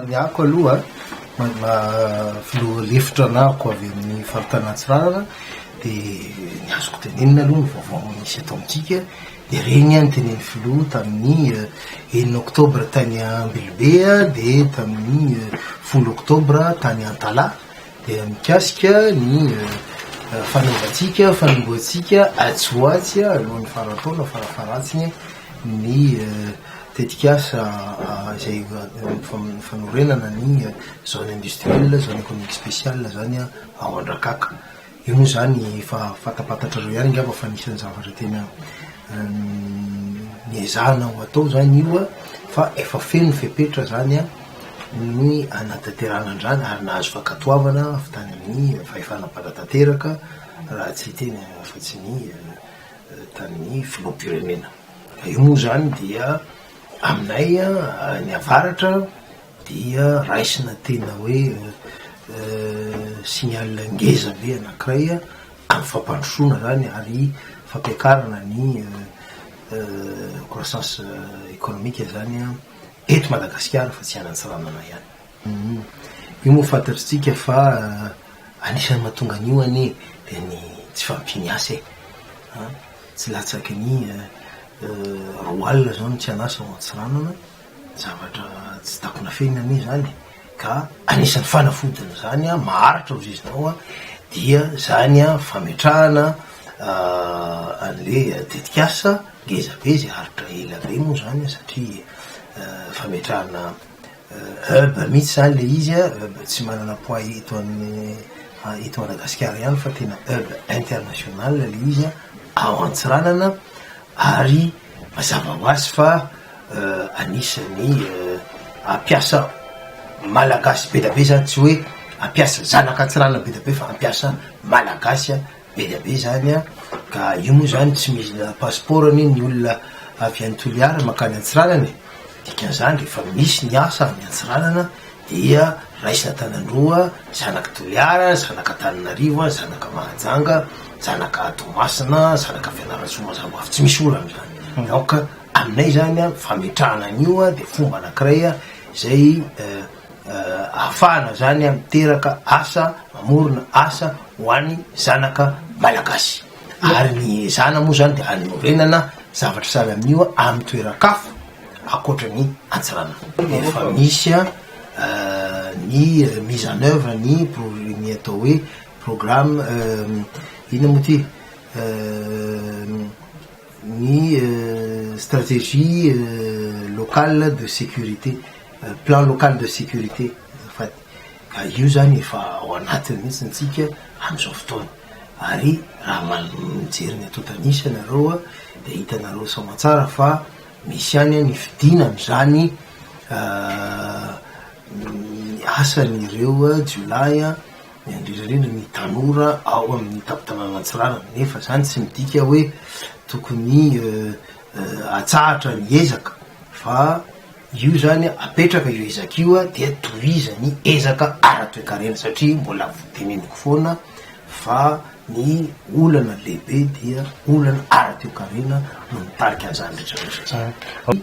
Ny ako aloha a, filoha lefitra anaroko avy amin'ny faritany Antsiranana dia ny azoko tenenina aloha ny vaovao misy eto amintsika dia ireny no tenenin'ny filoha tamin'ny enina oktobra tany Ambilobe dia tamin'ny folo oktobra tany Antalaha. dia mikasika ny fanaovantsika, fanombohantsika atsy ho atsy alohan'ny faran'ny taona farafaharantsiny ny tetikasa izay fanorenana ny zone industrielle, zone économique spéciale izany ao Andrakaka. Io moa izany efa fantapantatrareo ihany angamba fa anisan'ny zavatra tena niezahana ho atao izany io fa efa feno fepetra izany. ny hanatanterahana an'izany ary nahazo fankatoavana avy tany amin'ny fahefana mpanatanteraka raha tsy hiteny afa-tsy ny tamin'ny filoham-pirenena. Io moa izany dia aminay any avaratra dia raisina tena hoe signal ngeza be anankiray amin'ny fampandrosoana izany ary fampiakarana ny croissance économique izany. Eto Madagasikara fa tsy any Antsiranana ihany. Io moa fantatritsika fa anisan'ny mahatonga an'io anie dia ny tsy fahampian'ny asa e. Tsy latsaky ny roa alina izao no tsy an'asa ao Antsiranana. Zavatra tsy takona fenina anie izany e. Ka anisan'ny fanafodin'izany maharitra hozy izy tao dia izany fametrahana an'le tetikasa ngeza be izay haharitra ela be moa izany satria fametrahana hub mihitsy izany ilay izy an, hub tsy manana poids eto amin'ny eto Madagasikara ihany fa tena hub international ilay izy an, ao Antsiranana ary mazava ho azy fa. Anisan'ny hampiasa Malagasy be dia be izany, tsy hoe hampiasa zanaka Antsiranana be dia be fa hampiasa Malagasy be dia be izany an! ka io moa izany tsy mila passeport anie ny olona avy any Toliara mankany Antsiranana e! dikan'izany rehefa misy ny asa any Antsiranana dia raisina an-tanan-droa zanaka Toliara, zanaka Antananarivo an, zanaka Mahajanga, zanaka Toamasina, zanaka Fianarantsoa mazava ho azy, tsy misy olana izany, donc. Aminay izany an, fametrahana an'io an dia fomba anankiray an izay ahafahana zany an miteraka asa, mamorona asa ho an'ny zanaka malagasy. Ary ny ezahana moa izany dia hanorenana zavatra sahala amin'io an amin'ny toeran-kafa ankoatra ny Antsiranana. Efa misy an ny mise en oeuvre ny pro- ny atao hoe programme inona moa ity? ny stratégie locale de sécurité, plan local de sécurité azafady, ka io zany efa ao anatiny mihitsy ny tsika amin'izao fotoana, ary raha mijery ny antontan'isa ianareo dia hitanareo soamantsara fa misy ihany ny fidina amin'izany asan'ireo jiolahy ny andrirariana ny tanora ao amin'ny tampon-tanàna Antsiranana, nefa izany tsy midika hoe tokony atsahatra ny ezaka fa io izany apetraka io ezaka io dia tohiza ny ezaka ara-toekarena satria mbola teneniko foana fa ny olana lehibe dia olana ara-toekarena no mitarika an'izany rehetra rehetra izany.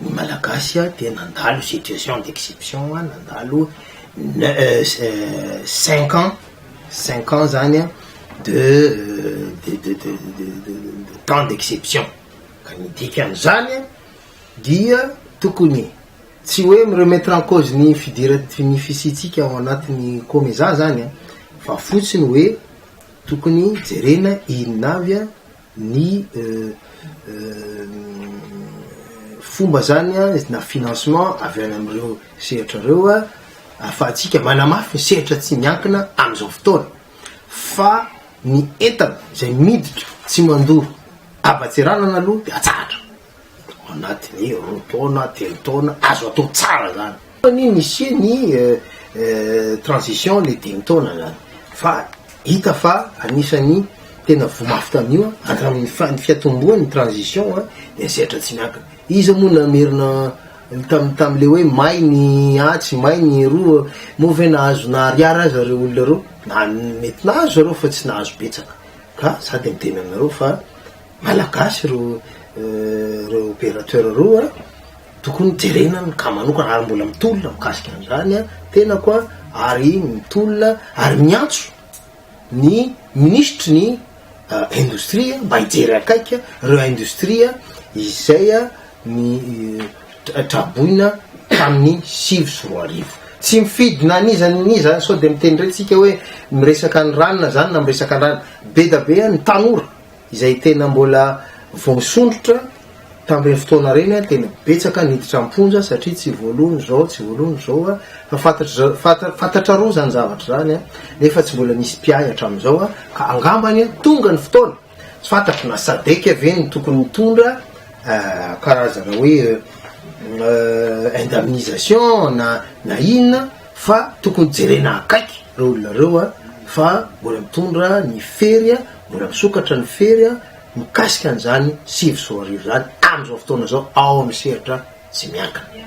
ny Malagasy dia nandalo situation d'exception, nandalo cinq ans, cinq ans zany de temps d'exception, ka ny dikan'izany dia tokony tsy hoe mi-remettre en cause ny fidiran'ny fisiantsika ao anatin'ny COMEZA zany an, fa fotsiny hoe tokony jerena inona avy an. ny fomba zany na financement avy any amin'ireo sehatra ireo ahafahantsika manamafy ny sehatra tsy miankina amin'izao fotoana fa ny entana izay miditra tsy mandoro afa-tseranana aloha dia atsahatra. Ao anatin'ny roa taona, telo taona, azo atao tsara zany. Ny nisy ny transition le dimy taona zany fa hita fa anisan'ny tena voa mafy tamin'io hatramin'ny fa- fiatombohan'ny ny transition a dia sehatra tsy miankina. Iza moa namerina tam- tam'le hoe may ny ahy tsy may ny eroa? Moa ve nahazo na ariary aza reo olona reo? Na mety nahazo zareo fa tsy nahazo betsaka ka sady niteny aminareo fa. Malagasy ro reo opérateur roa tokony jerena ny cas manokana ary mbola mitolona mikasika an'izany an tenako an ary mitolona ary miantso ny minisitry ny indostria mba hijery akaiky an reo indostria izay an ny traboina tamin'ny sivy sy roa arivo tsy mifidy na n'iza na n'iza an sao dia miteny indray tsika hoe miresaka ny ranona zany na miresaka ny rano be da be an ny tanora izay tena mbola voasondrotra tamin'ireny fotoana ireny, tena betsaka ny hiditra am-ponja satria tsy voaloany izao, tsy voaloany izao, fa fantatra fantatrareo izany zavatra izany nefa tsy mbola misy mpiahy hatramin'izao ka angambany tonga ny fotoana, tsy fantatro na sadec ve no tokony hitondra karazana hoe indemnisation na inona. Fa tokony jerena akaiky reo olona reo a, fa mbola mitondra ny fery a, mbola misokatra ny fery a, mikasika an'izany sivy sy roa arivo izany amin'izao fotoana izao ao amin'ny sehatra tsy miankina.